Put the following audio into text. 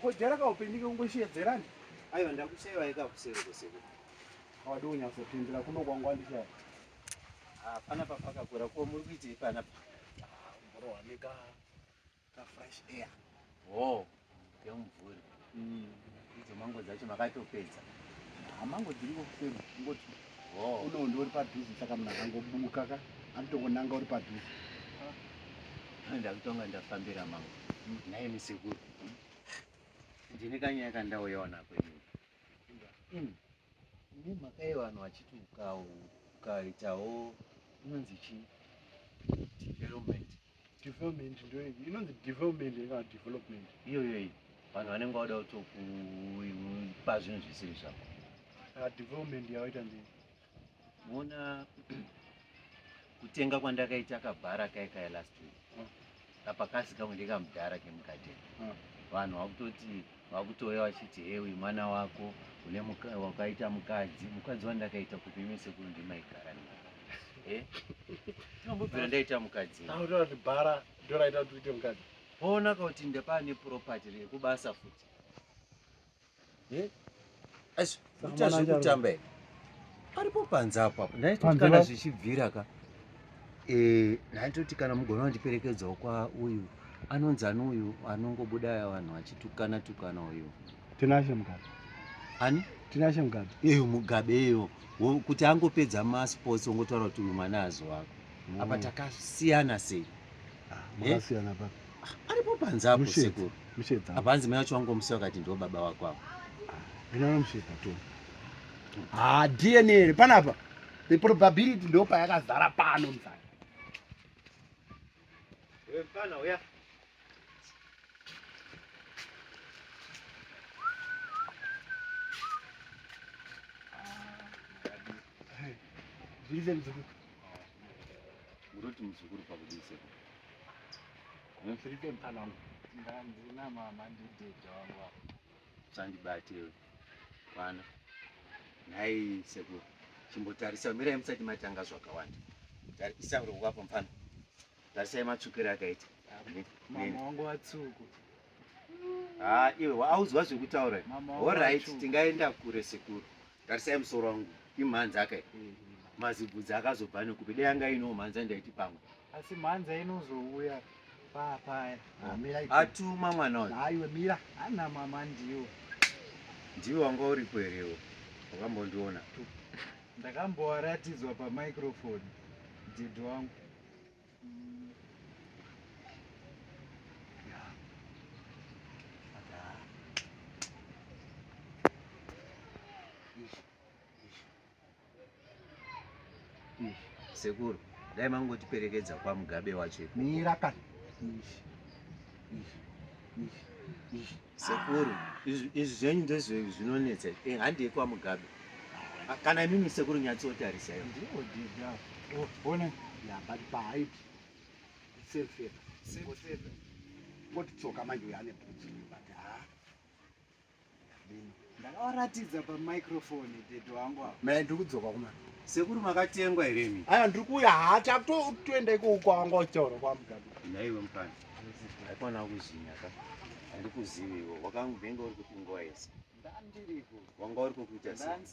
Kujara kaupenyu kekungosheedzerani aiwa ndakushaiwa yekakuseri kusiku awadi kunyatsopindura kuno kwangu wandishaya hapana papakakura ko muri kuitei panapa mburowaneka Ka fresh air. Oh, kemvuri. Mm. Idzo mango dzacho makatopedza. Amango ah, dziriko kusema ngoti. Oh. Uno ndori padhuze saka munhu akangobuka ka. Anotongonanga uri padhuze. Ah. Ndakutonga ndafambira mango. Mm. Naye misekuru. Mm. Ndine kanyaya kandauyawo nako ini. Mm. Ine mhaka yevanhu vachiti ukaitawo inonzi chii? Development. development ndoyo inonzi development kana development iyoyo iyi vanhu vanenge vauda kutokupa zvinhu zvisiri zvako ah, development yavaita ndei moona kutenga kwandakaita kabhara kai kai last week ah. kapakazi kamwe ndekamudhara kemugadheni ah. vanhu vakutoti Vakutouya vachiti hey uyu mwana wako une muka, wakaita mukadzi mukadzi wandakaita kupi imi sekuru ndimaigara navo eh? Tinombobvira ndaita mukadzi Taura kuti bhara ndoraita kuti uite mukadzi. Poonaka kuti ndapaa neproperty rekubasa futi eh? Asi kuita zvekutamba here? Paripo panze apa ndaitoti kana zvichibvira ka eh, ndaitoti kana mugona kundiperekedzawo kwa uyu anonzi ani uyu anongobuda aya vanhu vachitukana tukana uyu tinashe mugabe ani tinashe mugabe iyo mugabe iyo kuti angopedza masports ongotaura kuti uyu mwana azi wako apa mm. takasiyana sei ah, eh? makasiyana papi aripo panze apo sekuru apanzi mai wacho wangomusiya wakati ndiwo baba wako apo ha dna iri panapa the probability ndo payakazara pano mzaa Reason is good. Muroti muzukuru pakudise. Mfiripe mfana wangu. Ndandina mama ndidhedha wangu apa. Usandibate iwe. Mwana. Nhai sekuru. Chimbotarisa mirai musati matanga zvakawanda. Tarisa uri wapo mfana. Tarisai matsvukira akaita. Mama wangu watsuku. Ah, iwe wauzwa zvekutaura. All right, tingaenda kure sekuru. Tarisai musoro wangu. Imhanzi akaita. Mm-hmm. Mazibvudzi akazobva nekupi. Dai anga ino mhanzi andaiti pamwe. Asi mhanza inozouya paa paya. Ah, Atuma mwana uyu. Aiwe mira ana mama ndiwo. Ndiwo wanga uripo here iwo? Wakambondiona. Ndakambowaratidzwa pa microphone dad wangu. Sekuru, dai mangotiperekedza kwaMugabe wacho ikoko. Mira kani. Sekuru, izvi izvi zvenyu ndizvo zvinonetsa. Eh, handei kwaMugabe. Ah, Kana imimi sekuru nyatsotarisai. Ndiwo dida. Oh, one. Yeah, but paid. It's safe here. Safe, safe. Ngoti tsoka manje uyane bhutsu. But ah. ndakavaratidza pamicrofoni dedo wangu ava mai ndiri kudzoka kuma sekuru makatengwa here mi aya ndiri kuuya haa takutoenda iko uko wanga uchitaura kwamugabi naiwe mukana haikwana kuzinya ka handikuziviwo wakanguvenge uri kuti nguva yese ndandiriko wanga uri kokuita